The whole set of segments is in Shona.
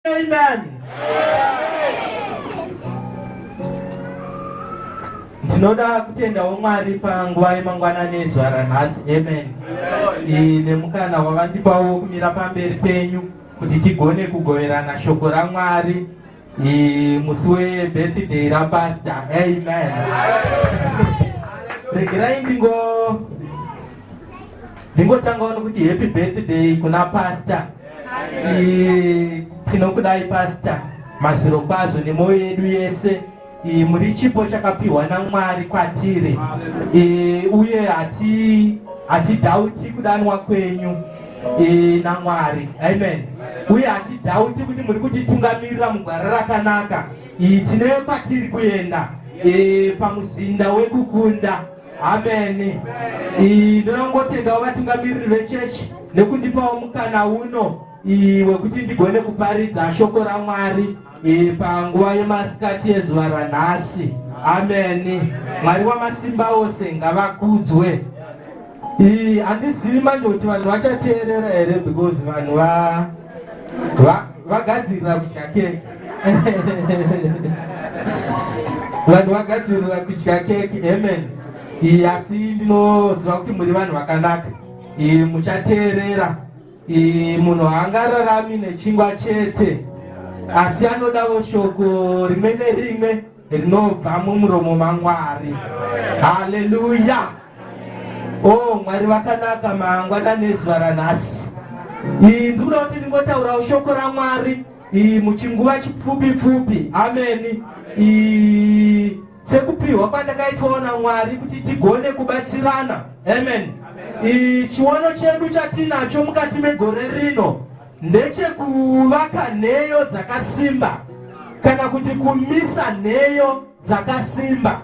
Amen. Ndinoda kutendawo Mwari panguva yemangwanani ezuva ranhasi. Amen. Nemukana wavandipawo kumira pamberi penyu kuti tigone kugoverana shoko raMwari musi webirthday rapasta. Amen. Regerai ndingo Ndingotangawo nokuti happy birthday kuna pastor. Tinokudai pastor mazviro kwazvo nemwoyo yedu yese. E, muri chipo chakapiwa namwari kwatiri e, uye hati hatidhauti kudanwa kwenyu e, namwari amen uye hatidhauti kuti muri kutitungamirira mugwara rakanaka e, tine kwatiri kuenda e, pamuzinda wekukunda ameni ndinongotendawo vatungamiriri vechechi nekundipawo mukana uno wekuti ndigone kuparidza shoko ramwari panguva yemasikati yezuva ranhasi ameni mwari wamasimba ose ngavakudzwe handizivi manje kuti vanhu vachateerera here because vanhu va vagadzirira kudya keke vanhu vagadzirira kudya keke amen asi ndinoziva kuti muri vanhu vakanaka muchateerera munhu haangararami nechingwa chete asi anodawo shoko rimwe nerimwe rinobva mumuromo maMwari. Haleluya! Oh, Mwari vakanaka mangwana nezuva ranhasi. Iyi ndikuda kuti ndingotaurawo shoko raMwari iyi muchinguva chipfupi pfupi. Ameni. Iyi sekupiwa kwandakaitwawo naMwari kuti tigone kubatsirana. Amen. Amen. Chiono chedu chatinacho mukati megore rino ndechekuvaka nheyo dzakasimba kana kuti kumisa nheyo dzakasimba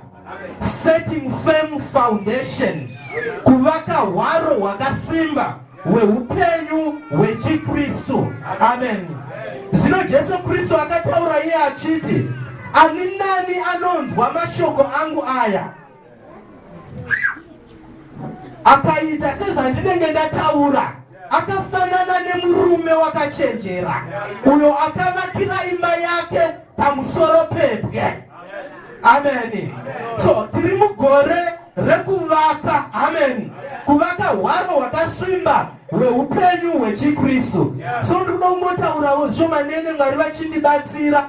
setting firm foundation kuvaka hwaro hwakasimba hweupenyu hwechikristu amen zvino jesu kristu akataura iye achiti ani nani anonzwa mashoko angu aya akaita sezvandinenge ndataura akafanana nemurume wakachenjera uyo akavakira imba yake pamusoro pebwe ameni so tiri mugore rekuvaka ameni kuvaka hwaro hwakasimba hweupenyu hwechikristu so ndinoda kungotaurawo zvomanene mwari vachindibatsira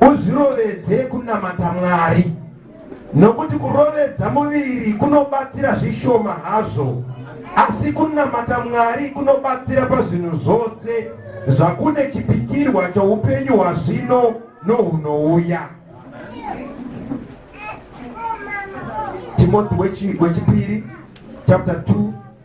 Uzvirovedze kunamata Mwari, nokuti kurovedza muviri kunobatsira zvishoma hazvo, asi kunamata Mwari kunobatsira pazvinhu zvose, zvakune chipikirwa choupenyu hwazvino nohunouya. Timoti wechipiri chapter 2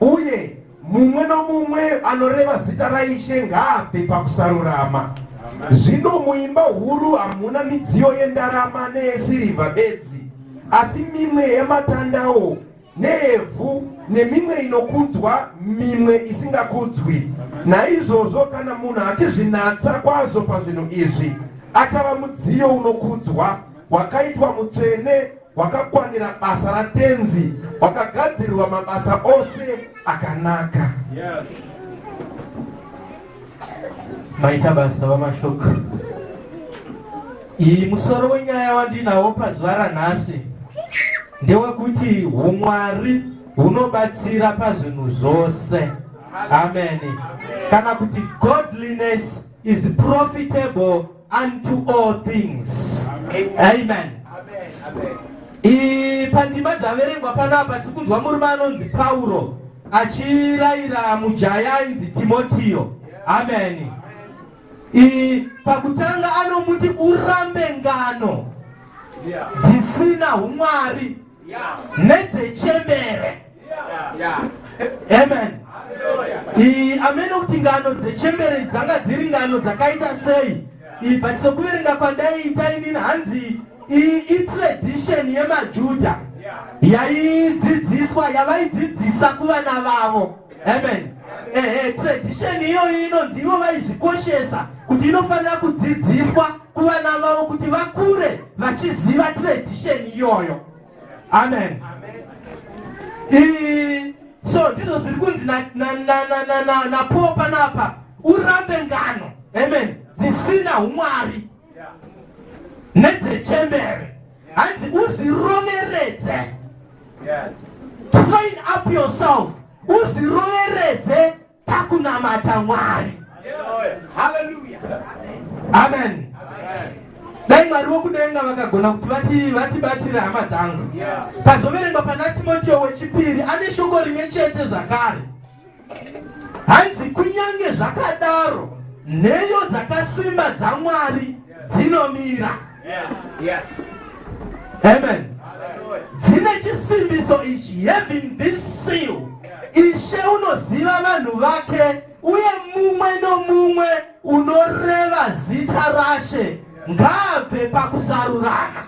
Uye mumwe nomumwe anoreva zita raIshe ngaabve pakusarurama. Zvino muimba huru hamuna midziyo yendarama neyesirivha bedzi, asi mimwe yematandawo neevhu nemimwe inokudzwa mimwe isingakudzwi. Naizvozvo kana munhu achizvinatsa kwazvo pazvinhu izvi, achava mudziyo unokudzwa wakaitwa mutsvene hwakakwanira basa ratenzi hwakagadzirirwa mabasa ose akanaka yes. maita basa vamashoko iyi musoro wenyaya wandinawo pazuva ranhasi ndewekuti umwari hunobatsira pazvinhu zvose amen kana kuti godliness is profitable unto all things amen, amen. amen. amen. I, pandima dzaverengwa panapa tiri kunzwa murume anonzi pauro achirayira mujaya ainzi timotiyo amen I, pakutanga anomuti urambe ngano dzisina umwari nedzechembere amen amene kuti ngano dzechembere dzanga dziri ngano dzakaita sei but sokuverenga kwandaiita inini hanzi itradition yemajuda yaidzidziswa yavaidzidzisa kuvana vavo amen ehe tradition iyoyo inonzi ivo vaizvikoshesa kuti inofanira kudzidziswa kuvana vavo kuti vakure vachiziva tradition iyoyo amen ii so ndizvo zviri kunzi napo panapa urambe ngano amen dzisina umwari nedzechembere hanzi uzviroveredze train up yourself uzviroveredze pakunamata mwari haleluya amen dai mwari vokudenga vakagona kuti vati vatibatsire hama dzangu pazoverengwa pana timotio wechipiri ane shoko rimwe chete zvakare hanzi kunyange zvakadaro nheyo dzakasimba dzamwari dzinomira amen dzine chisimbiso ichi having this seal ishe unoziva vanhu vake uye mumwe nomumwe unoreva zita rashe ngaabve pakusarurana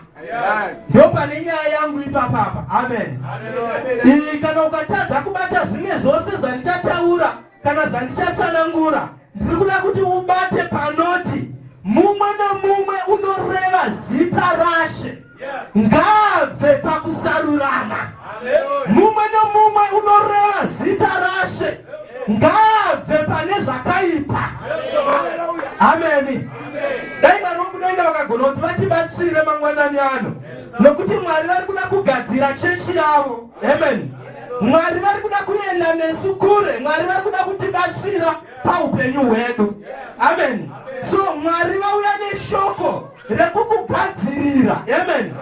ndopane nyaya yangu ipapapa amen iyi kana ukatadza kubata zvimwe zvose zvandichataura kana zvandichasanangura ndiri kuda kuti ubate panoti mumwe nomumwe unoreva zita rashe ngaabve pakusarurama mumwe nomumwe unoreva zita rashe ngaabve pane zvakaipa ameni dai mwari vokudenga vakagona kuti vatibatsire mangwanani ano nokuti mwari vari kuda kugadzira chechi yavo ameni mwari vari kuda kuenda nesu kure mwari vari kuda kutibatsira paupenyu hwedu ameni so mwari vauya neshoko rekukugadzirira amen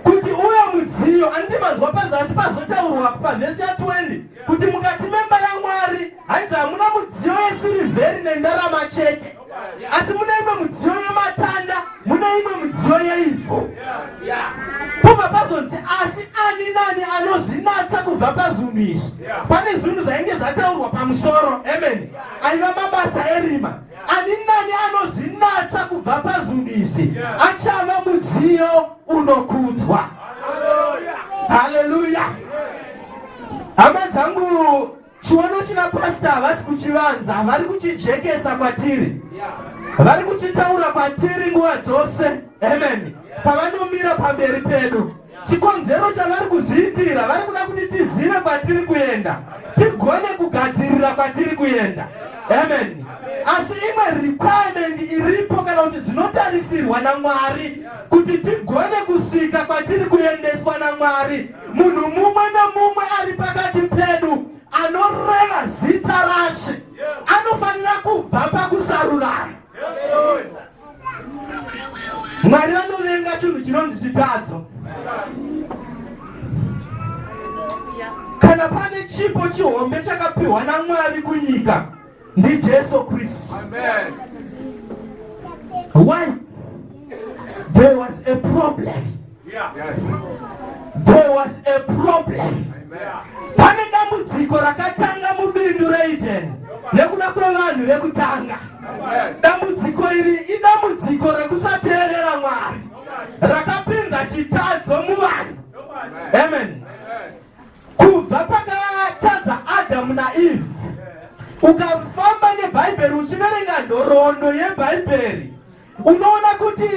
kuti uyo mudziyo anditi manzwa pazasi pazotaurwa pavhesi ya 20 kuti mukati memba yamwari hanzi hamuna mudziyo yesirivheri nendarama chete asi mune imwe mudziyo yematanda mune imwe mudziyo yeivho pobva pazonzi asi ani nani anozvinatsa kubva pazunhu izvi pane zvinhu zvainge zvataurwa pamusoro amen aiva mabasa erima Ani nani anozvinatsa kubva pazvinhu izvi achava mudziyo unokudzwa. Haleluya! Hama dzangu, chiono china pasta havasi kuchivanza, vari kuchijekesa kwatiri, vari kuchitaura kwatiri nguva dzose. Amen. Pavanomira pamberi pedu Chikonzero chavari kuzviitira vari kuda kuti tizive kwatiri kuenda, tigone kugadzirira kwatiri kuenda. Amen. Asi imwe requirement iripo kana kuti zvinotarisirwa naMwari kuti tigone kusvika kwatiri kuendeswa naMwari, munhu mumwe nomumwe ari pakati pedu anoreva zita rashe anofanira kubva pakusarurana Mwari vanovenga chinhu chinonzi chitadzo. Kana pane chipo chihombe chakapiwa naMwari kunyika ndiJesu Kristu. Amen. Why? There was a problem. There was a problem. Pane dambudziko rakatanga mubindu reEden nekuda kwevanhu vekutanga. Dambudziko iri idambudziko rekusateerera Mwari rakapinza chitadzo muvanhu. Amen. Kubva pakatadza Adamu naEve ukafamba nebhaibheri uchiverenga nhoroondo yebhaibheri Unoona kuti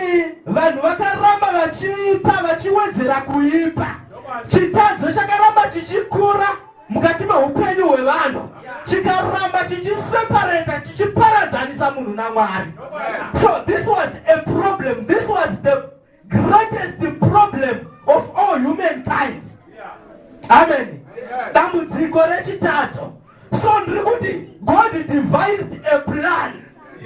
vanhu vakaramba vachiipa vachiwedzera kuipa, chitadzo chakaramba chichikura mukati meupenyu hwevanhu chikaramba chichiseparata chichiparadzanisa munhu namwari so this was a problem this was the greatest problem of all humankind amen dambudziko rechitatu so ndiri kuti god devised a plan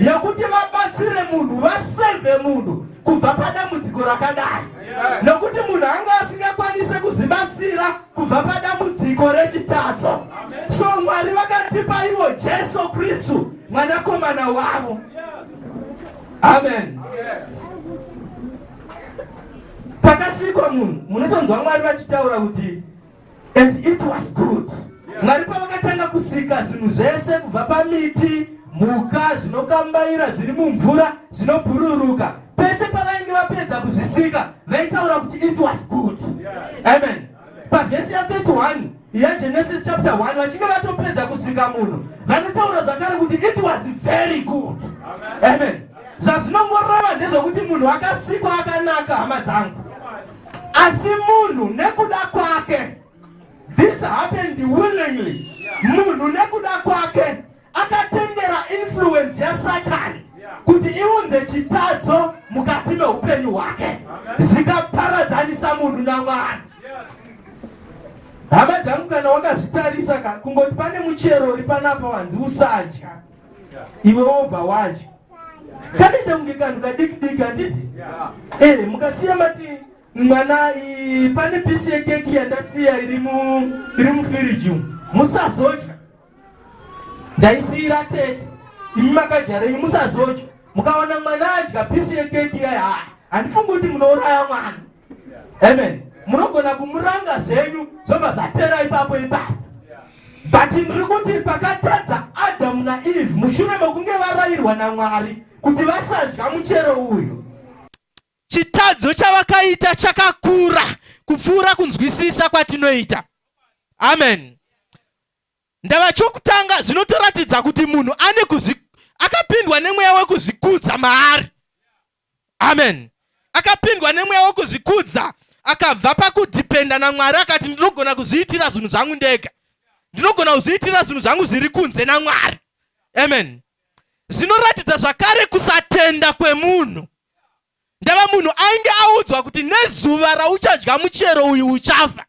yekuti vabatsire munhu vaseve munhu kubva padambudziko rakadai nokuti munhu anga asingakwanise kuzvibatsira kubva padambudziko rechitadzo so mwari vakatipa ivo jesu kristu mwanakomana wavo amen pakasikwa munhu munotonzwa mwari vachitaura kuti and it was good mwari pavakatanga kusika zvinhu zvese kubva pamiti mhuka zvinokambaira zviri mumvura zvinobhururuka pese pavainge vapedza kuzvisika vaitaura kuti it was good amen pavhesi ya 31 yagenesis chapter 1 vachinge vatopedza kusika munhu vanotaura zvakare kuti it was very good amen zvazvinongorova ndezvokuti munhu akasikwa akanaka hama dzangu asi munhu nekuda kwake this happened willingly munhu nekuda kwake akatendera influence yasatani kuti iunze chitadzo mukati meupenyu hwake zvikaparadzanisa munhu namwari hama dzangu kana wakazvitarisa ka kungoti pane muchero uri panapa wanzi usadya iwe wobva wadya kanoita kunge kanhu kadiki diki handiti ee eh, mukasiya mati mwana pane pisi yekeki yandasiya iri mufiriji musazodya ndaisiira tete imi makajareyi musazocho mukaona mwana adya pisi yekeki iyayi haa handifungi kuti munouraya mwana amen munogona kumuranga zvenyu zvobva zvapera ipapo ipapo but ndiri kuti pakatadza adamu naeve mushure mekunge varayirwa namwari kuti vasadya muchero uyu chitadzo chavakaita chakakura kupfuura kunzwisisa kwatinoita amen Ndava chokutanga zvinotoratidza kuti munhu ane kuzvi akapindwa nemweya wekuzvikudza maari. Amen. Akapindwa nemweya wekuzvikudza akabva pakudhipenda naMwari akati ndinogona kuzviitira zvinhu zvangu ndega. Ndinogona kuzviitira zvinhu zvangu zviri kunze naMwari. Amen. Zvinoratidza zvakare kusatenda kwemunhu. Ndava munhu ainge audzwa kuti nezuva rauchadya muchero uyu uchafa.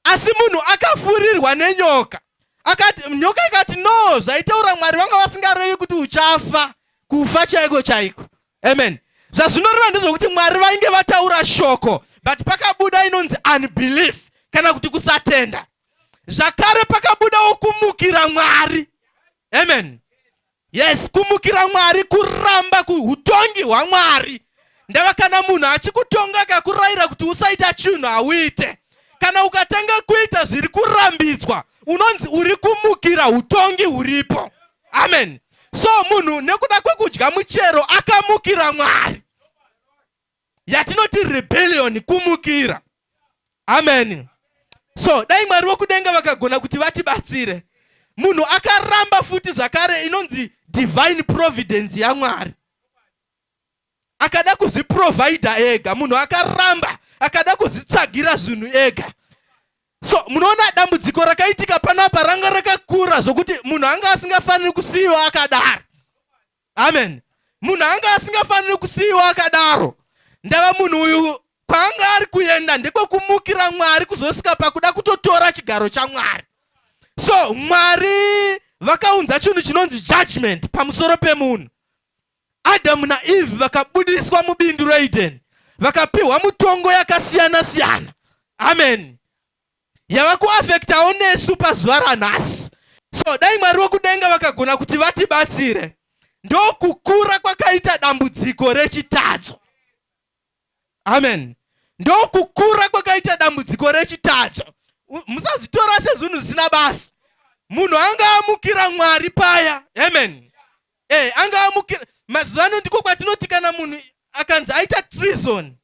asi munhu akafurirwa nenyoka akati nyoka ikati no zvaitaura mwari vanga vasingarevi kuti uchafa kufa chaiko chaiko amen zvazvinoreva ndezvokuti mwari vainge vataura shoko but pakabuda inonzi unbelief kana kuti kusatenda zvakare pakabudawo kumukira mwari amen Yes, kumukira Mwari kuramba kuhutongi hwaMwari. Ndava kana munhu achikutonga akakurayira kuti usaita chinhu hauite. Kana ukatanga kuita zviri kurambidzwa, unonzi uri kumukira hutongi huripo. Amen. So munhu nekuda kwekudya muchero akamukira Mwari. yatinoti rebellion kumukira amen so dai mwari vokudenga vakagona kuti vatibatsire munhu akaramba futi zvakare inonzi divine providence yamwari akada kuzviprovidha ega munhu akaramba akada kuzvitsvagira zvinhu ega so munoona dambudziko rakaitika panapa ranga rakakura zvokuti munhu anga asingafaniri kusiyiwa akadaro amen munhu anga asingafaniri kusiyiwa akadaro ndava munhu uyu kwaanga ari kuenda ndekwekumukira mwari kuzosvika pakuda kutotora chigaro chamwari so mwari vakaunza chinhu chinonzi judgment pamusoro pemunhu adamu naeve vakabudiswa mubindu reedeni vakapiwa mutongo yakasiyana siyana amen yava kuafektawo nesu pazuva ranhasi so dai mwari wekudenga vakagona kuti vatibatsire ndokukura kwakaita dambudziko rechitadzo amen ndokukura kwakaita dambudziko rechitadzo musazvitora sezvinhu zvisina basa munhu anga amukira mwari paya amen e, anga amukira mazuva ano ndiko kwatinoti kana munhu akanzi aita trison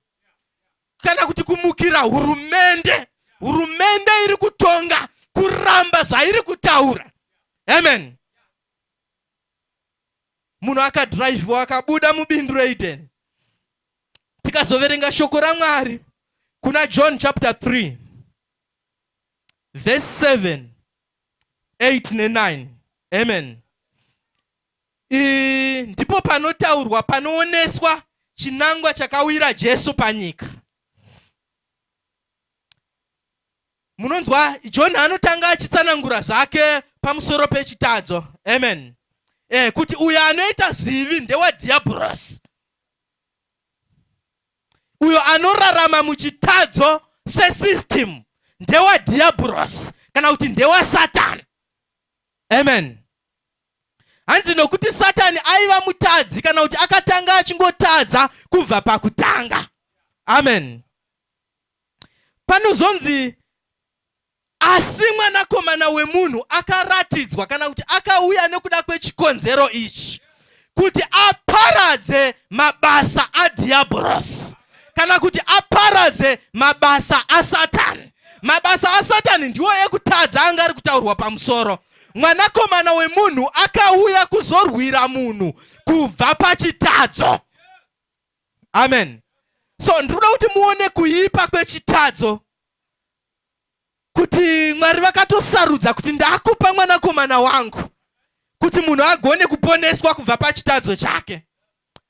kana kuti kumukira hurumende hurumende iri kutonga kuramba zvairi kutaura amen munhu akadhiraivhiwa akabuda mubindu reideni tikazoverenga shoko ramwari kuna john chapter 3 verse 7 8 ne9 amen Ii, ndipo panotaurwa panooneswa chinangwa chakawira Jesu panyika. Munonzwa John anotanga achitsanangura zvake pamusoro pechitadzo. Amen. Eh, kuti uyo anoita zvivi ndewadhiabhorosi. Uyo anorarama muchitadzo sesystem ndewadhiabhorosi kana kuti ndewasatani. Amen. hanzi nokuti satani aiva mutadzi kana kuti akatanga achingotadza kubva pakutanga amen panozonzi asi mwanakomana wemunhu akaratidzwa kana kuti akauya nekuda kwechikonzero ichi kuti aparadze mabasa adhiabhorosi kana kuti aparadze mabasa asatani mabasa asatani ndiwo ekutadza anga ari kutaurwa pamusoro pa Mwanakomana wemunhu akauya kuzorwira munhu kubva pachitadzo. Amen. So ndinoda kuti muone kuipa kwechitadzo kuti Mwari vakatosarudza kuti ndakupa mwanakomana wangu kuti munhu agone kuponeswa kubva pachitadzo chake.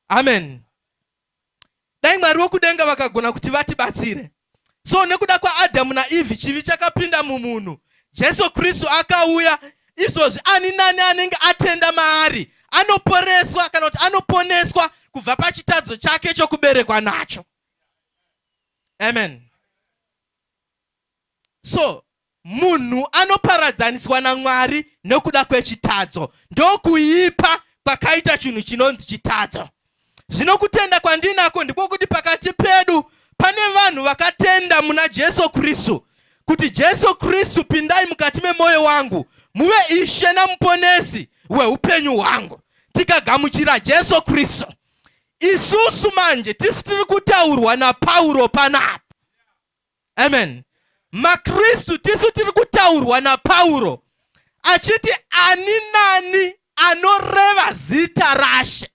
Amen. dai mwari wekudenga vakagona kuti vatibatsire so nekuda kwaadhamu naivhi chivi chakapinda mumunhu jesu kristu akauya izvozvi ani nani anenge atenda maari anoporeswa kana kuti anoponeswa kubva pachitadzo chake chokuberekwa nacho amen so munhu anoparadzaniswa namwari nokuda kwechitadzo ndokuipa kwakaita chinhu chinonzi chitadzo zvino kutenda kwandinako ndiko kuti pakati pedu pane vanhu vakatenda muna jesu kristu kuti jesu kristu pindai mukati memwoyo wangu muve ishe namuponesi weupenyu hwangu tikagamuchira jesu kristu isusu manje tisi tiri kutaurwa napauro panapa amen makristu tisu tiri kutaurwa napauro achiti ani nani anoreva zita rashe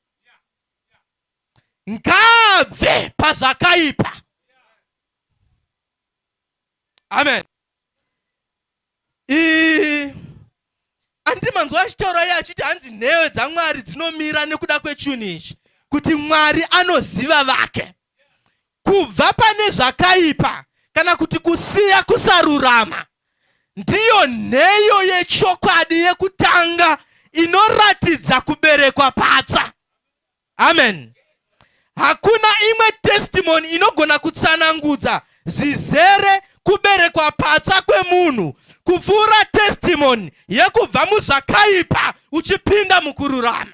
ngaabve pazvakaipa amen ii andimanzwa achitaura iye achiti hanzi nheyo dzamwari dzinomira nekuda kwechunhu ichi kuti mwari anoziva vake kubva pane zvakaipa kana kuti kusiya kusarurama ndiyo nheyo yechokwadi yekutanga inoratidza kuberekwa patsva Amen. Hakuna imwe testimony inogona kutsanangudza zvizere kuberekwa patsva kwemunhu kupfuura testimony yekubva muzvakaipa uchipinda mukururama.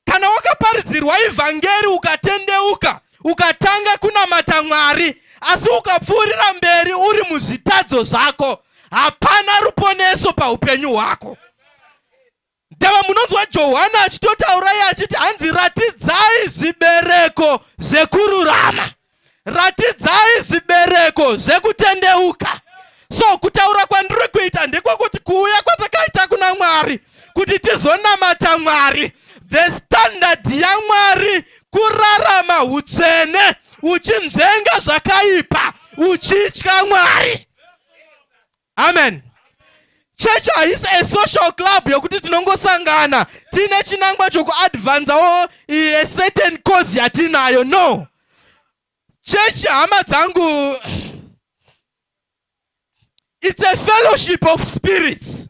Kana wakaparidzirwa ivhangeri ukatendeuka, ukatanga kunamata Mwari, asi ukapfuurira mberi uri muzvitadzo zvako, hapana ruponeso paupenyu hwako. Ndava munonzwa Johana achitotaura iye achiti hanzi ratidzai zvibereko zvekururama, ratidzai zvibereko zvekutendeuka. So kutaura kwandiri kuita ndekwokuti kuuya kwatakaita kuna Mwari kuti tizonamata Mwari, the standard yaMwari kurarama utsvene uchinzvenga zvakaipa uchitya Mwari. amen church haisi a social club yokuti tinongosangana tiine chinangwa chokuadvanzawo a certain cause yatinayo no church hama dzangu it's a fellowship of spirits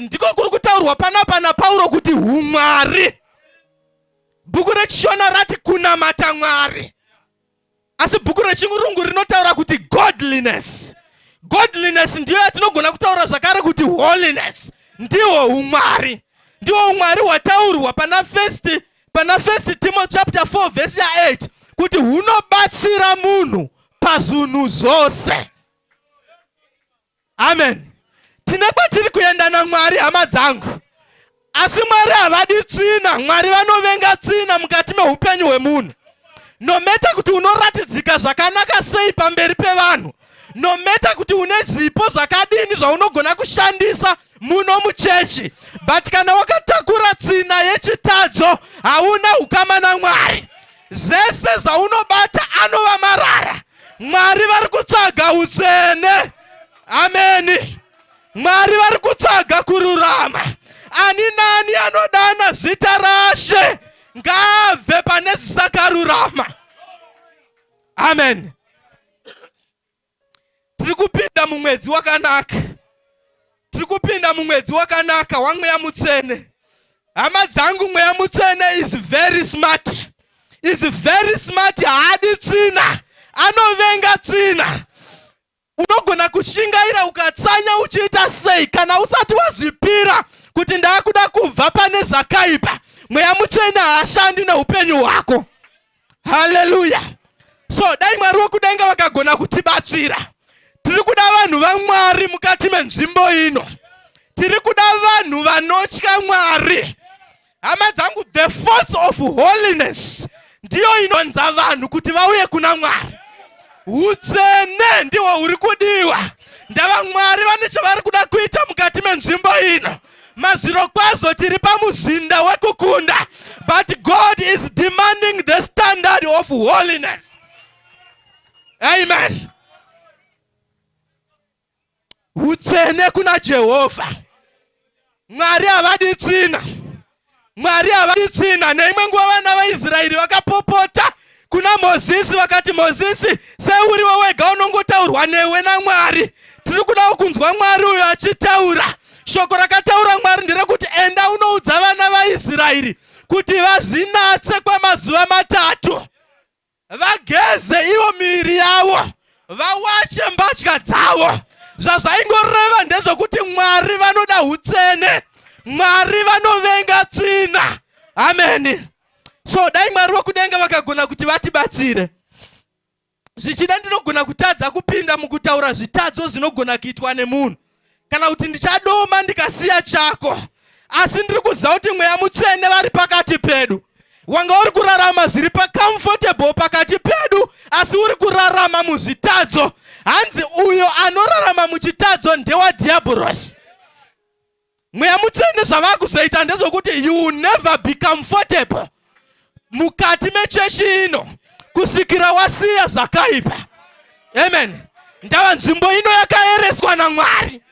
ndiko kuri kutaurwa panapa napauro kuti umwari bhuku rechishona rati kunamata mwari asi bhuku rechirungu rinotaura kuti godliness godliness ndiyo yatinogona kutaura zvakare kuti holiness ndiwo umwari ndiwo umwari hwataurwa pana first pana first timothy chapter 4 vhesi ya8 kuti hunobatsira munhu pazunhu zvose amen tine kwatiri kuenda namwari hama dzangu asi mwari havadi tsvina mwari vanovenga tsvina mukati meupenyu hwemunhu nometa kuti unoratidzika zvakanaka sei pamberi pevanhu nometa kuti une zvipo zvakadini zvaunogona kushandisa muno muchechi but kana wakatakura tsvina yechitadzo hauna ukama namwari Zvese zvaunobata anova marara. Mwari vari kutsvaga utsvene. Ameni. Mwari vari kutsvaga kururama. Ani nani anodana zita rashe ngaabve pane zvisakarurama. Amen. tiri kupinda mumwedzi wakanaka tiri kupinda mumwedzi wakanaka wamweya mutsvene hama dzangu mweya mutsvene is very smart is very smart haadi tsvina anovenga tsvina unogona kushingaira ukatsanya uchiita sei kana usati wazvipira kuti ndaakuda kubva pane zvakaipa mweya mutsvene haashandi neupenyu hwako haleluya so dai mwari wekudenga vakagona kutibatsira tiri kuda vanhu vamwari mukati menzvimbo ino tiri kuda vanhu vanotya mwari hama dzangu the force of holiness ndiyo inonza vanhu kuti vauye kuna mwari utsvene ndihwo huri kudiwa ndavamwari vane chavari kuda kuita mukati menzvimbo ino Mazvirokwazvo tiri pamuzinda wekukunda but God is demanding the standard of holiness. Amen. Utsvene kuna Jehovah. Mwari havadi tsvina. Mwari havadi tsvina. Neimwe nguva vana vaIsraeri vakapopota kuna Mozisi vakati, Mozisi, seuriwo wega unongotaurwa newe naMwari. Tiri kudawo kunzwa Mwari uyo achitaura. Shoko rakataura Mwari nderekuti enda unoudza vana vaIsraeri kuti vazvinatse kwamazuva matatu. vageze ivo miviri yavo vawache mbatya dzavo zvazvaingoreva ndezvokuti mwari vanoda utsvene mwari vanovenga tsvina ameni so dai mwari vokudenga vakagona kuti vatibatsire zvichida ndinogona kutadza kupinda mukutaura zvitadzo zvinogona kuitwa nemunhu kana kuti ndichadoma ndikasiya chako asi ndiri kuziva kuti mweya mutsvene vari pakati pedu wanga uri kurarama zviri pacomfortable pakati pedu asi uri kurarama muzvitadzo hanzi uyo anorarama muchitadzo ndewadhiabhurosi mweya mutsvene zvavakuzoita ndezvokuti you will never be comfortable mukati mechechi ino kusvikira wasiya zvakaipa amen ndava nzvimbo ino yakaereswa namwari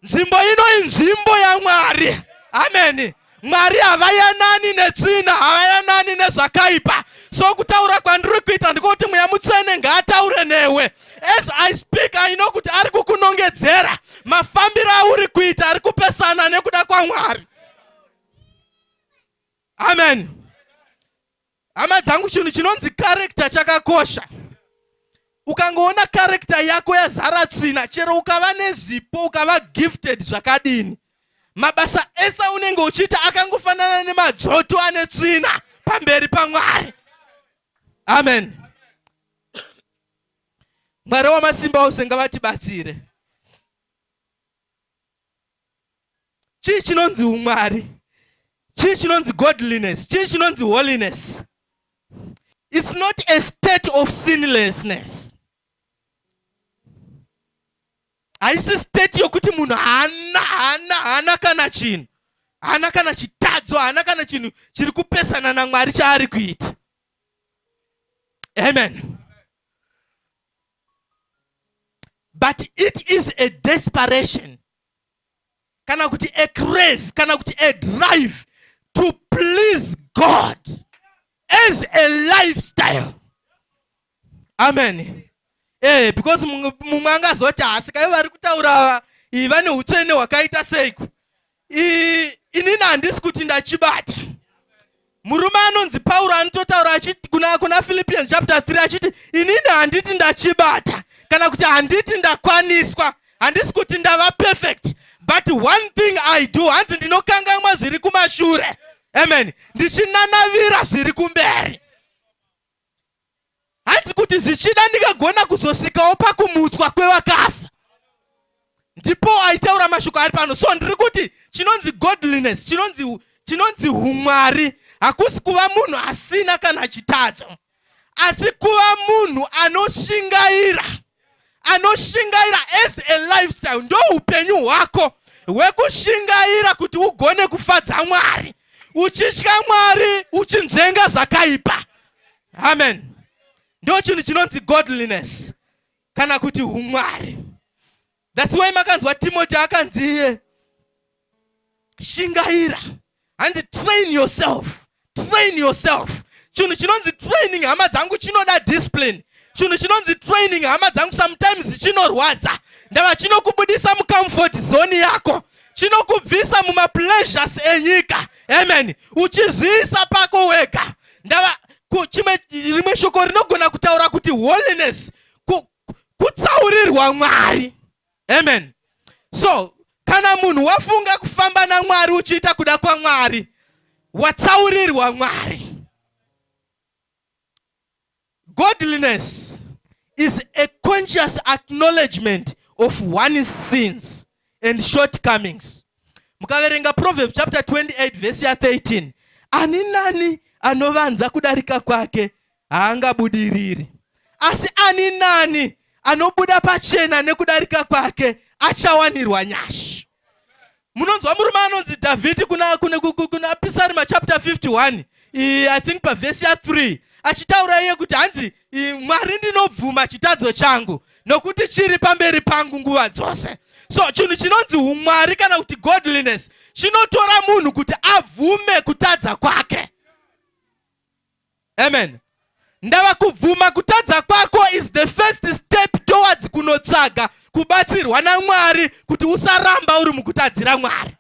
nzvimbo ino inzvimbo yamwari ameni mwari havayanani netsvina havayanani nezvakaipa so kutaura kwandiri kuita ndikokuti mweya mutsvene ngaataure newe As I speak, I know kuti ari kukunongedzera. Mafambiro auri kuita ari kupesana nekuda kwaMwari. Amen. Hama dzangu chinhu chinonzi character chakakosha. Ukangoona character yako yazara tsvina, chero ukava nezvipo, ukava gifted zvakadini. Mabasa ese unenge uchiita akangofanana nemadzoto ane tsvina pamberi paMwari. Amen. Mwari wamasimba ose ngavatibatsire. Chii chinonzi umwari? Chii chinonzi godliness? Chii chinonzi holiness? It's not a state of sinlessness. haisi state yokuti munhu haana haana haana kana chinhu haana kana chitadzo haana kana chinhu chiri kupesana namwari chaari kuita Amen. But it is a desperation kana kuti a crave kana kuti a drive to please God as a lifestyle. Amen. Eh, because mumwe angazoti haasi kai vari kutaura ava vane utsvene hwakaita seiko inini handisi kuti ndachibata murume anonzi pauro anototaura achiti kuna, kuna philippians chapter 3 achiti inini handiti ndachibata kana kuti handiti ndakwaniswa handisi kuti ndava perfect but one thing i do hanzi ndinokangamwa zviri kumashure amen ndichinanavira zviri kumberi hanzi kuti zvichida ndingagona kuzosvikawo pakumutswa kwevakafa ndipo aitaura mashoko ari pano so ndiri kuti chinonzi godliness chinonzi chinonzi umwari hakusi kuva munhu asina kana chitadzo asi kuva munhu anoshingaira anoshingaira as a lifestyle ndo upenyu hwako hwekushingaira kuti ugone kufadza mwari uchitya mwari uchinzvenga zvakaipa amen ndo chinhu chinonzi godliness kana kuti umwari That's why makanzwa Timothy akanzi shingaira hanzi train yourself train yourself chinhu chinonzi training hama dzangu chinoda discipline chinhu chinonzi training hama dzangu sometimes chinorwadza ndava chinokubudisa mucomfort zone yako chinokubvisa mumapleasures enyika amen uchizviisa pako wega ndava chimwe rimwe shoko rinogona kutaura kuti holiness kutsaurirwa Mwari. Amen. So kana munhu wafunga kufamba naMwari uchiita kuda kwaMwari, watsaurirwa Mwari. Godliness is a conscious acknowledgement of one's sins and shortcomings. Mukaverenga Proverbs chapter 28 verse ya 13, ani nani anovanza kudarika kwake haangabudiriri. Asi ani nani anobuda pachena nekudarika kwake achawanirwa nyasha. Munonzwa murume anonzi Dhavhidhi kuna, kuna, kuna, kuna Pisarima chapter 51 I, I think pavhesi ya 3 achitaura iye kuti hanzi Mwari ndinobvuma chitadzo changu nokuti chiri pamberi pangu nguva dzose. So chinhu chinonzi umwari kana kuti godliness chinotora munhu kuti abvume kutadza kwake. amen ndava kubvuma kutadza kwako is the first step towards kunotsvaga kubatsirwa namwari kuti usaramba uri mukutadzira mwari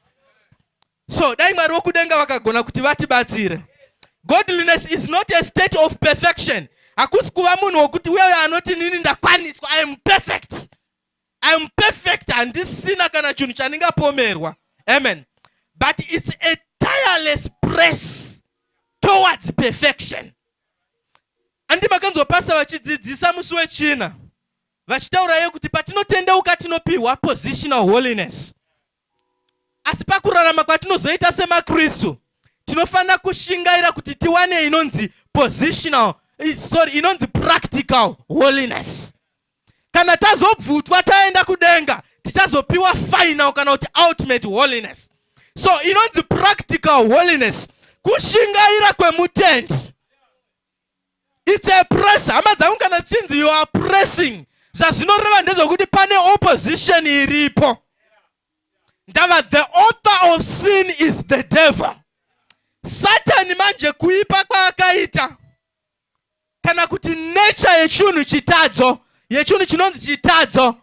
so dai mwari wokudenga vakagona kuti vatibatsire godliness is not a state of perfection hakusi kuva munhu wokuti uyeyo anoti nini ndakwaniswa i am perfect I'm perfect handisina kana chinhu chandingapomerwa amen but it's a tireless press towards perfection andi makanzwa pasa vachidzidzisa musi wechina vachitaurayo kuti patinotendeuka tinopiwa positional holiness Asi pakurarama kwatinozoita semaKristu, tinofanira kushingaira kuti tiwane inonzi positional, eh, sorry, inonzi practical holiness. Kana tazobvutwa taenda kudenga, tichazopiwa final kana kuti ultimate holiness. So inonzi practical holiness, kushingaira kwemutendi. It's a press. Hama dzangu kana chinzi you are pressing. Zvazvinoreva ndezvokuti pane opposition iripo. Ndava the author of sin is the devil. Satani manje kuipa kwaakaita kana kuti nature yechinhu chitadzo yechinhu chinonzi chitadzo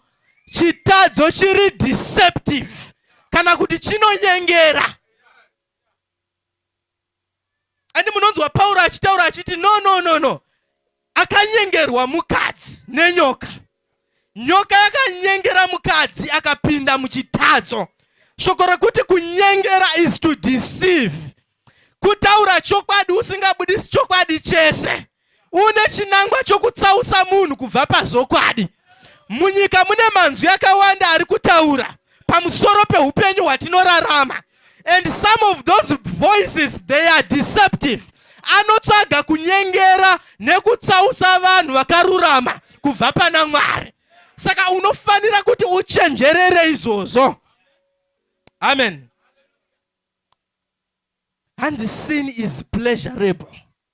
chitadzo chiri deceptive kana kuti chinonyengera and munonzwa pauro achitaura achiti no no no no akanyengerwa mukadzi nenyoka nyoka yakanyengera mukadzi akapinda muchitadzo shoko rekuti kunyengera is to deceive kutaura chokwadi usingabudisi chokwadi chese une chinangwa chokutsausa munhu kubva pazvokwadi. Munyika mune manzwi akawanda ari kutaura pamusoro peupenyu hwatinorarama and some of those voices they are deceptive anotsvaga kunyengera nekutsausa vanhu vakarurama kubva pana mwari saka unofanira kuti uchenjerere izvozvo amen hanzi sin is pleasurable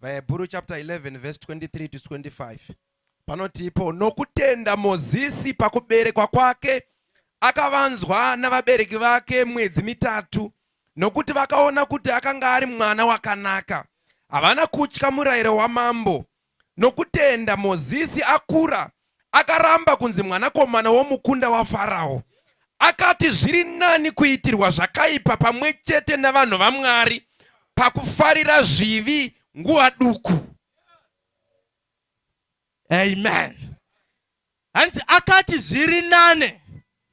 VaHebhuru chapter 11 verse 23 to 25 panoti ipo nokutenda Mozisi pakuberekwa kwake akavanzwa navabereki vake mwedzi mitatu nokuti vakaona kuti akanga ari mwana wakanaka. Havana kutya murayiro wamambo. Nokutenda Mozisi akura akaramba kunzi mwanakomana womukunda waFarao. Akati zviri nani kuitirwa zvakaipa pamwe chete navanhu vaMwari pakufarira zvivi nguva duku. Amen. Hanzi akati zviri nane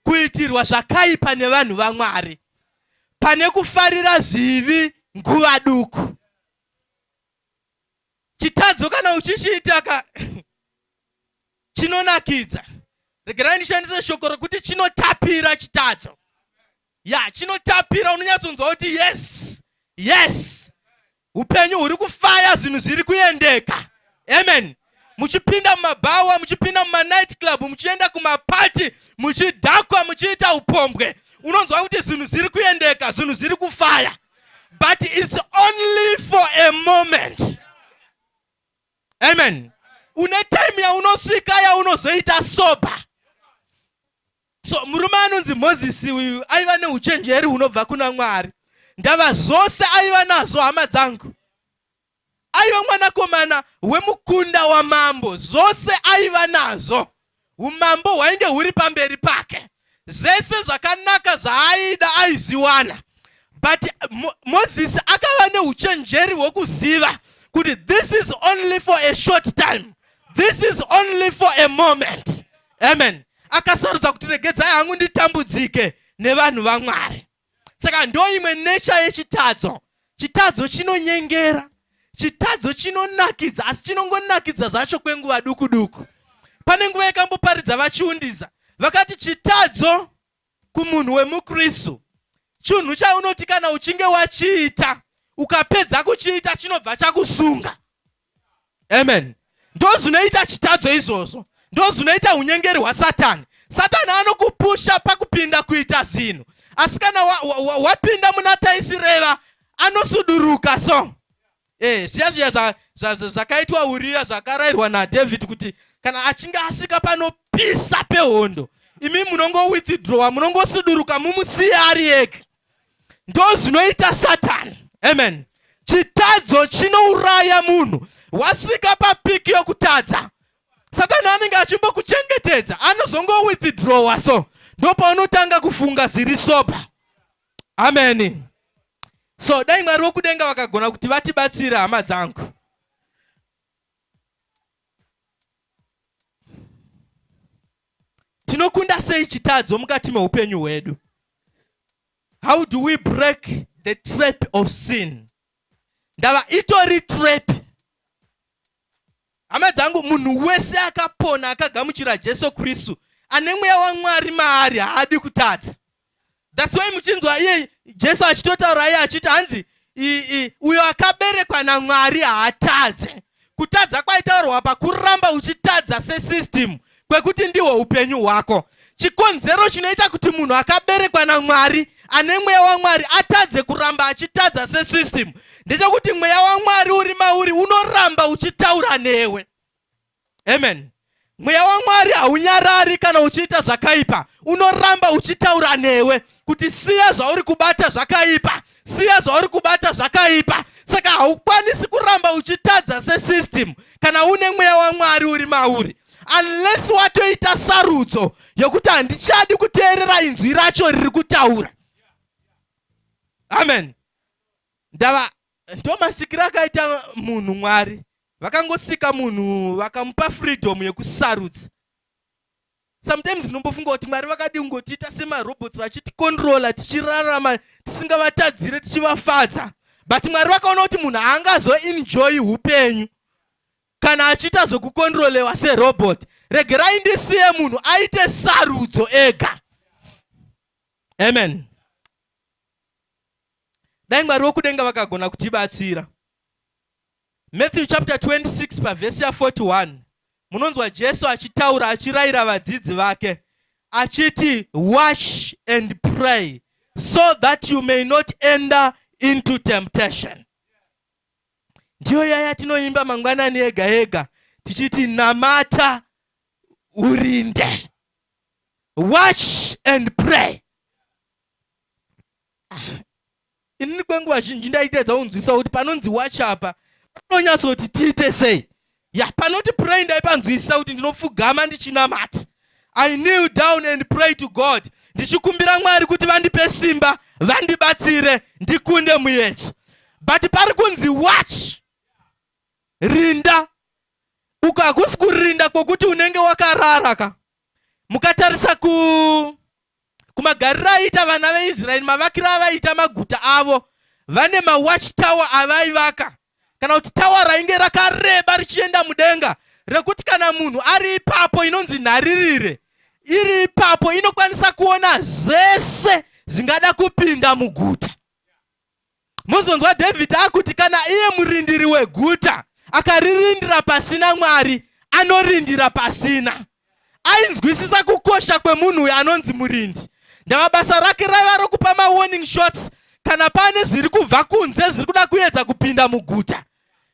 kuitirwa zvakaipa nevanhu vaMwari pane kufarira zvivi nguva duku. Chitadzo kana uchichiita ka chinonakidza regerai ndishandise shoko rekuti chinotapira chitadzo ya chinotapira unonyatsonzwa kuti yes yes upenyu huri kufaya zvinhu zviri kuendeka amen muchipinda mumabhawa muchipinda mumanight club muchienda kumapati muchidhakwa muchiita upombwe unonzwa kuti zvinhu zviri kuendeka zvinhu zviri kufaya but its only for a moment amen une time yaunosvika yaunozoita sober so murume anonzi mozisi uyu aiva neuchenjeri hunobva kuna mwari ndava zvose aiva nazvo hama dzangu aiva mwanakomana wemukunda wamambo zvose aiva nazvo umambo hwainge huri pamberi pake zvese zvakanaka zvaaida aizviwana but Mo mozisi akava neuchenjeri hwekuziva kuti this is only for a short time this is only for a moment amen akasarudza kuti regedzai hangu nditambudzike nevanhu vamwari saka ndo imwe nesha yechitadzo chitadzo chinonyengera chitadzo chinonakidza asi chinongonakidza zvacho kwenguva duku duku pane nguva yakamboparidza vachiundisa vakati chitadzo kumunhu wemukristu chinhu chaunoti kana uchinge wachiita ukapedza kuchiita chinobva chakusunga amen ndozvinoita chitadzo izvozvo ndozvinoita unyengeri hwasatani satani anokupusha pakupinda kuita zvinhu asi kana wapinda muna taisireva anosuduruka so eh, zviya zviya zvakaitwa uriya zvakarayirwa nadhavhidhi kuti kana achinge asvika panopisa pehondo imi munongowithdrowa munongosuduruka mumusiya ari ega ndozvinoita satani amen chitadzo chinouraya munhu wasvika papiki yokutadza satani anenge achimbokuchengetedza anozongowithdrowa so ndopaunotanga kufunga zviri sopa ameni so dai mwari wokudenga vakagona kuti vatibatsire hama dzangu Tinokunda sei chitadzo mukati meupenyu hwedu? How do we break the trap of sin? Ndava itori trap. Hama dzangu, munhu wese akapona akagamuchira Jesu Kristu ane mweya waMwari maari haadi kutadza. thats why muchinzwa iye jesu achitotaura iye achiti hanzi uyo akaberekwa namwari haatadze kutadza kwaitaurwa pakuramba uchitadza sesystem kwekuti ndihwo upenyu hwako chikonzero chinoita kuti munhu akaberekwa namwari ane mweya wamwari atadze kuramba achitadza sesystem ndechekuti mweya wamwari uri mauri unoramba uchitaura newe Amen. Mweya waMwari haunyarari kana uchiita zvakaipa, unoramba uchitaura newe kuti siya zvauri kubata zvakaipa, siya zvauri kubata zvakaipa. Saka haukwanisi kuramba uchitadza sesystem kana une mweya waMwari uri mauri, unless watoita sarudzo yokuti handichadi kuteerera inzwi racho riri kutaura. Amen. Ndava ndomasikiro akaita munhu Mwari vakangosika munhu vakamupa freedom yekusarudza sometimes ndinombofunga kuti mwari vakadii kungotiita semarobots vachitikontrola tichirarama tisingavatadzire tichivafadza but mwari vakaona kuti munhu haangazoenjoyi upenyu kana achiita zvekukontrolewa serobot regerai ndisiye munhu aite sarudzo ega amen dai mwari vokudenga vakagona kutibatsira Matthew chapter 26 pavhesi ya41 munonzwa Jesu achitaura achirayira vadzidzi vake achiti watch and pray so that you may not enter into temptation. Ndiyo yaya tinoimba mangwanani ega ega tichiti namata urinde. Watch and pray. inini kwenguva zhinji ndaitedza kunzwisa kuti panonzi wacha apa panonyatsa kuti tiite sei ya panoti pray ndaipanzwisisa kuti ndinopfugama ndichinamati i kneel down and pray to god ndichikumbira mwari kuti vandipe simba vandibatsire ndikunde muyedzo but pari kunzi watch rinda uko hakusi kurinda kwokuti unenge wakarara ka mukatarisa ku kumagariro aiita vana veisraeri mavakiro avaiita maguta avo vane mawatch tower avaivaka kana kuti tawa rainge rakareba richienda mudenga rekuti kana munhu ari ipapo inonzi nharirire iri ipapo inokwanisa kuona zvese zvingada kupinda muguta Mozonzwa David akuti kana iye murindiri weguta akaririndira pasina Mwari anorindira pasina. Ainzwisisa kukosha kwemunhu uyo anonzi murindi. Ndava basa rake raiva rokupa mawarning shots kana pane zviri kubva kunze zviri kuda kuedza kupinda muguta.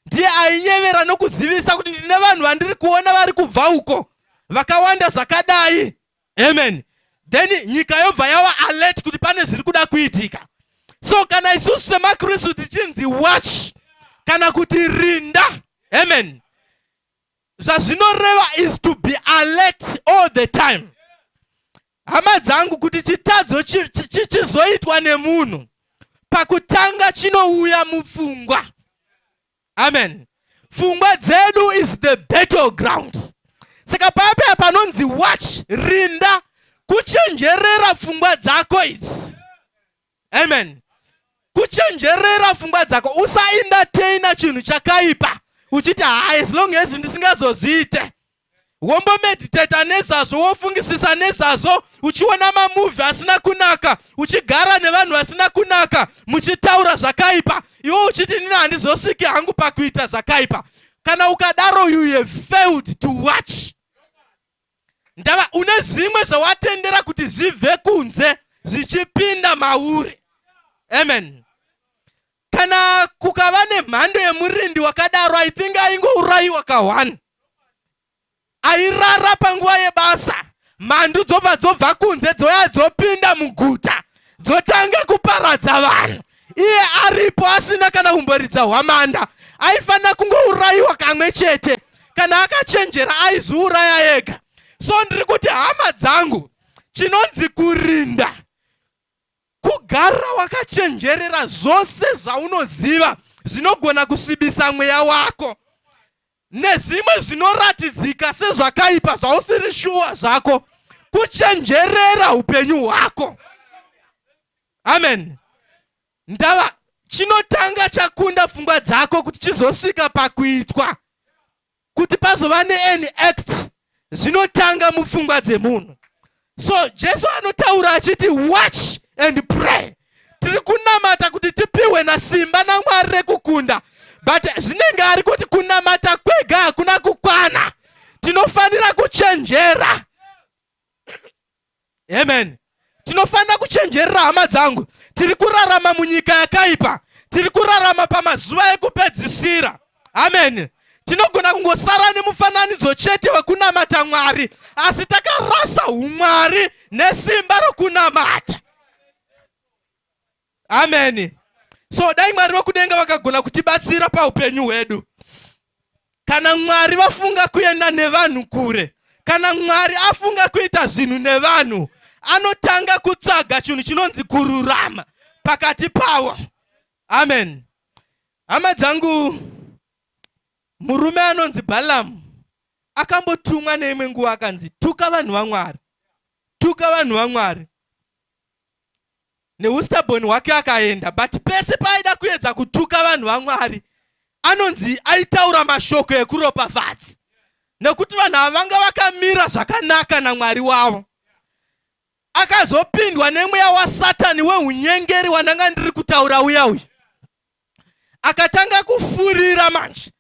Ndiye ainyevera nokuzivisa kuti ndine vanhu vandiri kuona vari kubva uko vakawanda zvakadai. amen then nyika yobva yawa alert kuti pane zviri kuda kuitika so kana isusu semakristu tichinzi watch kana kuti rinda amen zvazvinoreva is to be alert all the time hama dzangu kuti chitadzo chichizoitwa nemunhu pakutanga chinouya mupfungwa amen pfungwa dzedu is the battle ground saka paya panonzi watch rinda kuchenjerera pfungwa dzako idzi amen kuchenjerera pfungwa dzako usaindateina chinhu chakaipa uchiti haa as long as ndisingazozviite wombomediteta nezvazvo wofungisisa nezvazvo uchiona mamuvhi asina kunaka uchigara nevanhu vasina kunaka muchitaura zvakaipa iwo uchiti nini handizosviki hangu pakuita zvakaipa kana ukadaro you have failed to watch ndava une zvimwe zvawatendera kuti zvibve kunze zvichipinda mauri amen kana kukava nemhando yemurindi wakadaro i think aingourayiwa ka one airara panguva yebasa mhandu dzobva dzobva kunze dzoya dzopinda muguta dzotanga kuparadza vanhu iye aripo asina kana kumboridza hwamanda aifanira kungourayiwa kamwe chete kana akachenjera aiziuraya ega so ndiri kuti hama dzangu chinonzi kurinda Kugara wakachenjerera zvose zvaunoziva zvinogona kusvibisa mweya wako nezvimwe zvinoratidzika sezvakaipa zvausiri shuwa zvako kuchenjerera upenyu hwako. Amen. Ndava chinotanga chakunda pfungwa dzako kuti chizosvika pakuitwa kuti pazova nean act zvinotanga mupfungwa dzemunhu so jesu anotaura achiti watch and pray tiri kunamata kuti tipiwe nasimba namwari rekukunda but zvinenge ari kuti kunamata kwega hakuna kukwana tinofanira kuchenjera amen tinofanira kuchenjerera hama dzangu tiri kurarama munyika yakaipa tiri kurarama pamazuva ekupedzisira amen tinogona kungosara nemufananidzo chete wekunamata mwari asi takarasa umwari nesimba rokunamata ameni so dai mwari vekudenga vakagona kutibatsira paupenyu hwedu kana mwari vafunga kuenda nevanhu kure kana mwari afunga kuita zvinhu nevanhu anotanga kutsvaga chinhu chinonzi kururama pakati pawo amen hama dzangu murume anonzi balamu akambotumwa neimwe nguva akanzi tuka vanhu vamwari tuka vanhu vamwari neustaboni hwake akaenda but pese paaida kuedza kutuka vanhu vamwari anonzi aitaura mashoko ekuropafadzi nekuti vanhu ava vanga vakamira zvakanaka namwari wavo akazopindwa nemweya wasatani weunyengeri wandanga ndiri kutaura uya uya akatanga kufurira manje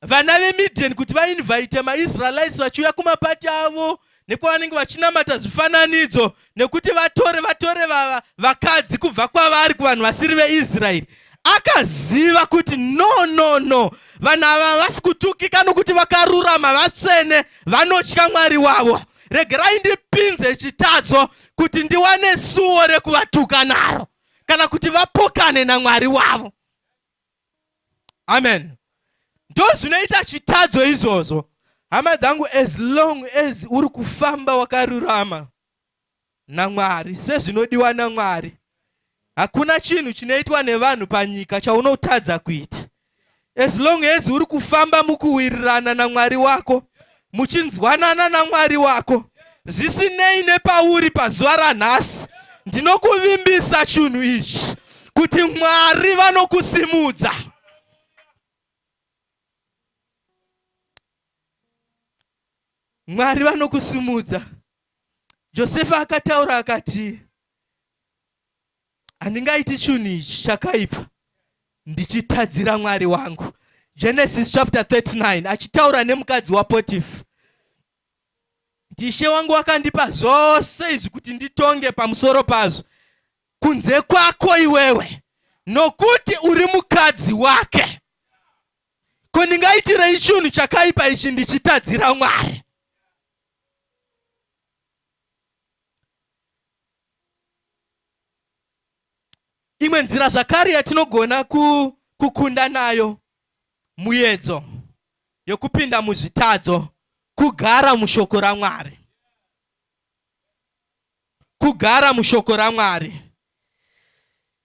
vana vemidian kuti vainvaite maisraelites vachiuya kumapati avo nekwavanenge vachinamata zvifananidzo nekuti vatore vatore vava vakadzi kubva kwavari kuvanhu vasiri veisraeri akaziva kuti no no no vanhu ava havasi kutukika nokuti vakarurama vatsvene vanotya mwari wavo regerai ndipinze chitadzo kuti ndiwane suwo rekuvatuka naro kana kuti vapokane namwari wavo amen ndozvinoita chitadzo izvozvo hama dzangu as long as uri kufamba wakarurama namwari sezvinodiwa namwari hakuna chinhu chinoitwa nevanhu panyika chaunotadza kuita as long as uri kufamba mukuwirirana namwari wako muchinzwanana naMwari wako zvisinei nepauri pazuva ranhasi ndinokuvimbisa chinhu ichi kuti Mwari vanokusimudza Mwari vanokusimudza Josefa akataura akati handingaiti chunhu ichi chakaipa ndichitadzira mwari wangu genesis chapter 39 achitaura nemukadzi wapotifa ndishe wangu wakandipa zvose izvi kuti nditonge pamusoro pazvo kunze kwako iwewe nokuti uri mukadzi wake ko ndingaitirei chunhu chakaipa ichi ndichitadzira mwari Imwe nzira zvakare yatinogona kukunda nayo muyedzo yokupinda muzvitadzo kugara mushoko raMwari. Kugara mushoko raMwari.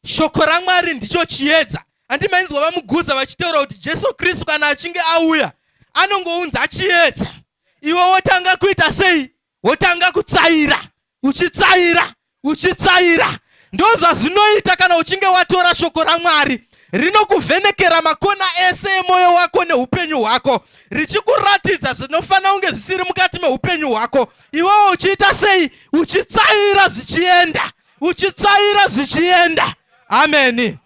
Shoko raMwari ndicho chiedza. Andimainzwa vamuguza vachitaura kuti Jesu Kristu kana achinge auya anongounza chiedza. Iwe wotanga kuita sei? wotanga kutsvaira uchitsvaira uchitsvaira ndozvazvinoita kana uchinge watora shoko ramwari rinokuvhenekera makona ese emwoyo wako neupenyu hwako richikuratidza zvinofanira kunge zvisiri mukati meupenyu hwako iwewo uchiita sei uchitsvaira zvichienda uchitsvaira zvichienda ameni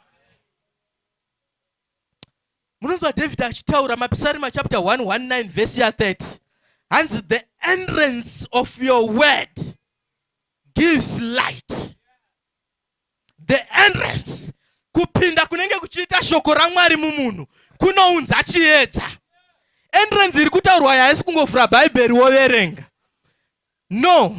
munonzwa dhavhidhi achitaura mapisarima chapter 119 vhesi ya 30 hanzi the entrance of your word gives light the entrance kupinda kunenge kuchiita shoko ramwari mumunhu kunounza chiedza entrance iri kutaurwa yaisi kungovhura bhaibheri woverenga no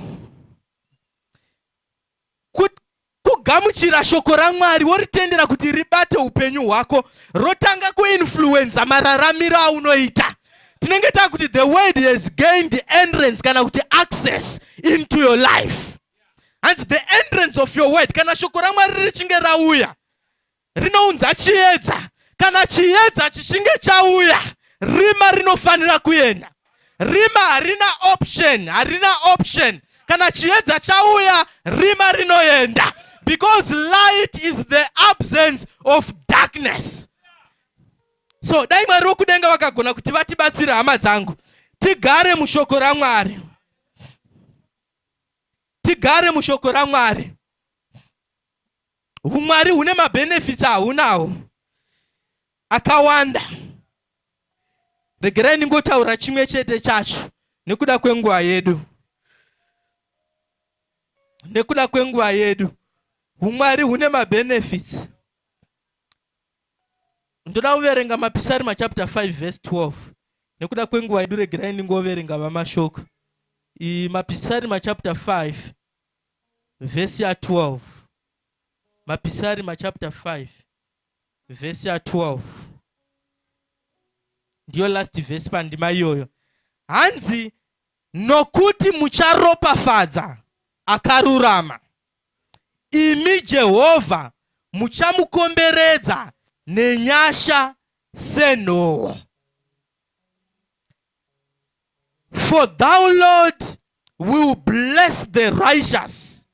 kugamuchira shoko ramwari woritendera kuti ribate upenyu hwako rotanga kuinfluenza mararamiro aunoita tinenge taa kuti the word has gained entrance kana kuti access into your life hanzi the entrance of your word kana shoko ramwari richinge rauya rinounza chiedza. Kana chiedza chichinge chauya, rima rinofanira kuenda. Rima harina option, harina option. Kana chiedza chauya, rima rinoenda. Because light is the absence of darkness. So dai Mwari wokudenga vakagona kuti vatibatsire hama dzangu tigare mushoko raMwari, tigare mushoko raMwari. Humwari hune mabenefits ahunawo akawanda. Regerai ndingotaura chimwe chete chacho nekuda kwenguva yedu. Nekuda kwenguva yedu. Humwari hune mabenefits. Ndoda kuverenga mapisarima chapter 5 verse 12. Nekuda kwenguva yedu regerai ndingoverenga vamashoko. Mapisarima chapter 5 vhesi ya 12 mapisarima chapter 5 vhesi ya 12 ndiyo last vhesi pandima iyoyo hanzi nokuti mucharopafadza akarurama imi jehovha muchamukomberedza nenyasha senhowo For thou, Lord, will bless the righteous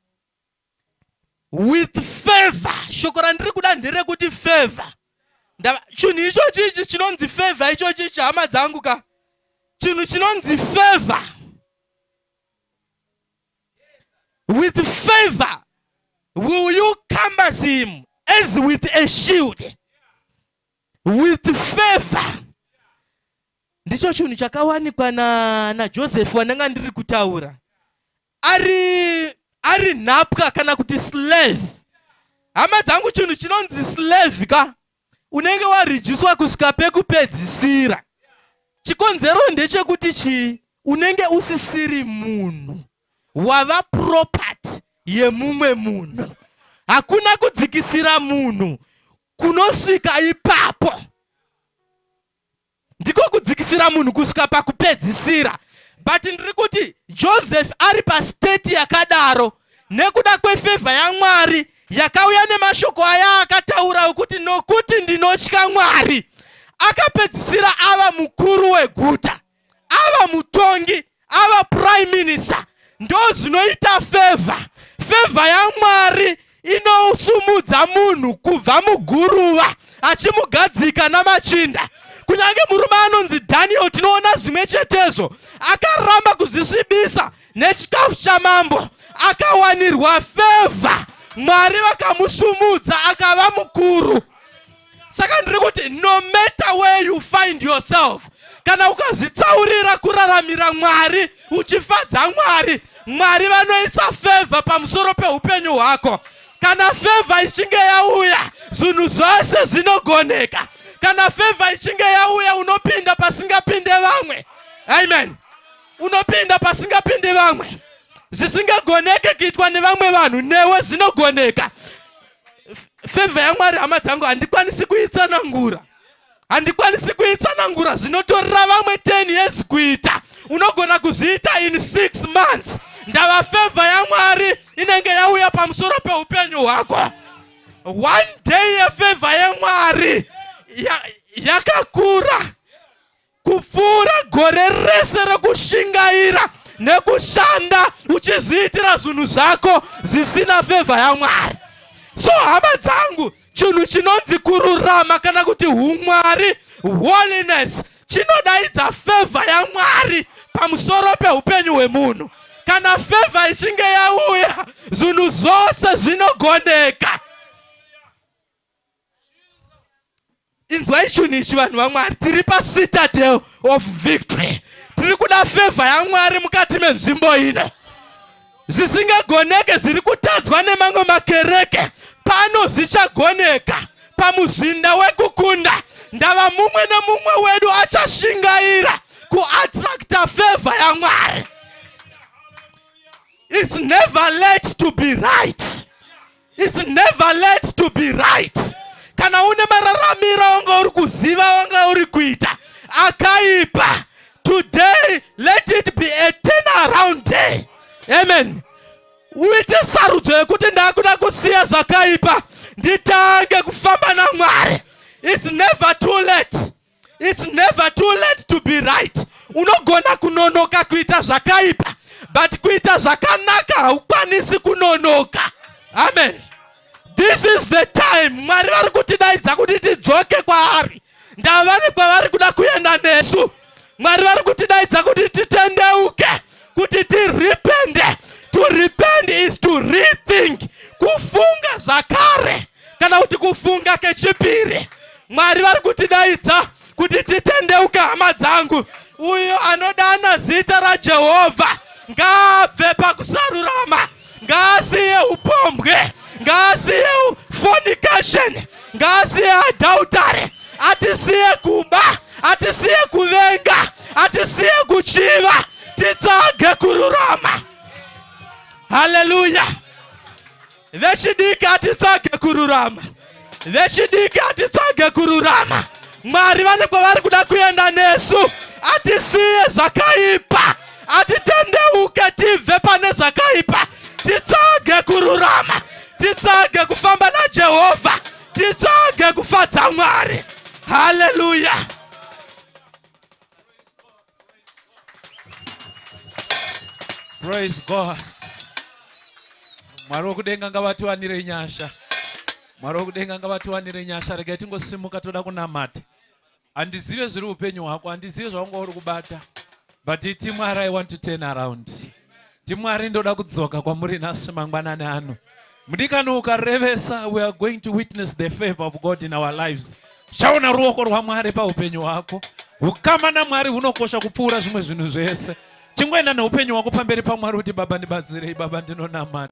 with favor. Shoko randiri kuda nderekuti favor. Chinhu ichochi ichi chinonzi favor ichochi ichi hama dzangu ka. Chinhu chinonzi favor. With favor will you compass him as with a shield. With favor ndicho chinhu chakawanikwa na, najoseph wandanga ndiri kutaura ari ari nhapwa kana kuti slave hama dzangu chinhu chinonzi slave ka unenge warijiswa kusvika pekupedzisira chikonzero ndechekuti chii unenge usisiri munhu wava property yemumwe munhu hakuna kudzikisira munhu kunosvika ipapo ndiko kudzikisira munhu kusvika pakupedzisira but ndiri kuti joseph ari pastate yakadaro nekuda kwefevha yamwari yakauya nemashoko aya akataura okuti nokuti ndinotya mwari akapedzisira ava mukuru weguta ava mutongi ava prime minister ndozvinoita favor favor yamwari inosumudza munhu kubva muguruva achimugadzika namachinda kunyange murume anonzi daniel tinoona zvimwe chetezvo akaramba kuzvisvibisa nechikafu chamambo akawanirwa fevha mwari vakamusumudza akava mukuru saka ndiri kuti no matter where you find yourself kana ukazvitsaurira kuraramira mwari uchifadza mwari mwari vanoisa fevha pamusoro peupenyu hwako kana fevha ichinge yauya zvinhu zvose zvinogoneka kana fevha ichinge yauya unopinda pasingapinde vamwe amen unopinda pasingapinde vamwe zvisingagoneke kuitwa nevamwe vanhu newe zvinogoneka Favor yaMwari hama dzangu handikwanisi kuitsanangura. Handikwanisi kuitsanangura zvinotorera vamwe 10 years kuita. Unogona kuzviita in 6 months. Ndava favor yaMwari inenge yauya pamusoro peupenyu hwako. One day yefavor yaMwari yakakura. Ya kupfuura gore rese rekushingaira nekushanda uchizviitira zvinhu zvako zvisina fevha yamwari so hama dzangu chinhu chinonzi kururama kana kuti umwari holiness chinodaidza fevha yamwari pamusoro peupenyu hwemunhu kana fevha ichinge yauya zvinhu zvose zvinogoneka inzwai chunhu ichi vanhu vamwari tiri pacitadel of victory tiri kuda fevha yamwari mukati menzvimbo ino zvisingagoneke zviri kutadzwa nemamwe makereke pano zvichagoneka pamuzinda wekukunda ndava mumwe nemumwe wedu achashingaira kuattracta fevha yamwari its never late to be right It's never late to be right. Kana une mararamiro wanga uri kuziva wanga uri kuita akaipa today let it be a turnaround day. Amen. Uite sarudzo yekuti ndakuda kusiya zvakaipa nditange kufamba naMwari. It's never too late. It's never too late to be right. Unogona kunonoka kuita zvakaipa but kuita zvakanaka haukwanisi kunonoka. Amen. This is the time Mwari vari kutidaidza kuti tidzoke kwaari. Ndavani kwavari kuda kuenda nesu. Mwari vari kutidaidza kuti titendeuke, kuti tirepende. To repent is to rethink, kufunga zvakare. kana kuti kufunga kechipiri. Mwari vari kutidaidza kuti titendeuka, hama dzangu. Uyo anodana zita raJehovha ngaabve pakusarurama, ngaasiye upombwe, ngaasiye fornication, ngaasiye adultery, atisiye kuba, atisiye kuvenga, atisiye kuchiva, titsvage kururama. Hallelujah. Vechidiki hatitsvage kururama, vechidiki hatitsvage kururama. Mwari vane kwavari kuda kuenda nesu, atisiye zvakaipa, atitendeuke tibve pane zvakaipa, titsvage kururama, titsvage kufamba naJehovha, titsvage kufadza Mwari. Haleluya! Praise God. Mwari wokudenga ngavatiwanire nyasha. Mwari wokudenga ngavatiwanire nyasha. Regai tingosimuka toda kunamata. Handizive zviri upenyu hwako, handizive zvaunga uri kubata. But iti Mwari I want to turn around. ndimwari ndoda kudzoka kwamuri nhasi mangwanani ano mudikani ukarevesa we are going to witness the favor of god in our lives uchaona ruoko rwamwari paupenyu hwako ukama namwari hunokosha kupfuura zvimwe zvinhu zvese chingoenda neupenyu hwako pamberi pamwari kuti baba ndibatsirei baba ndinonamata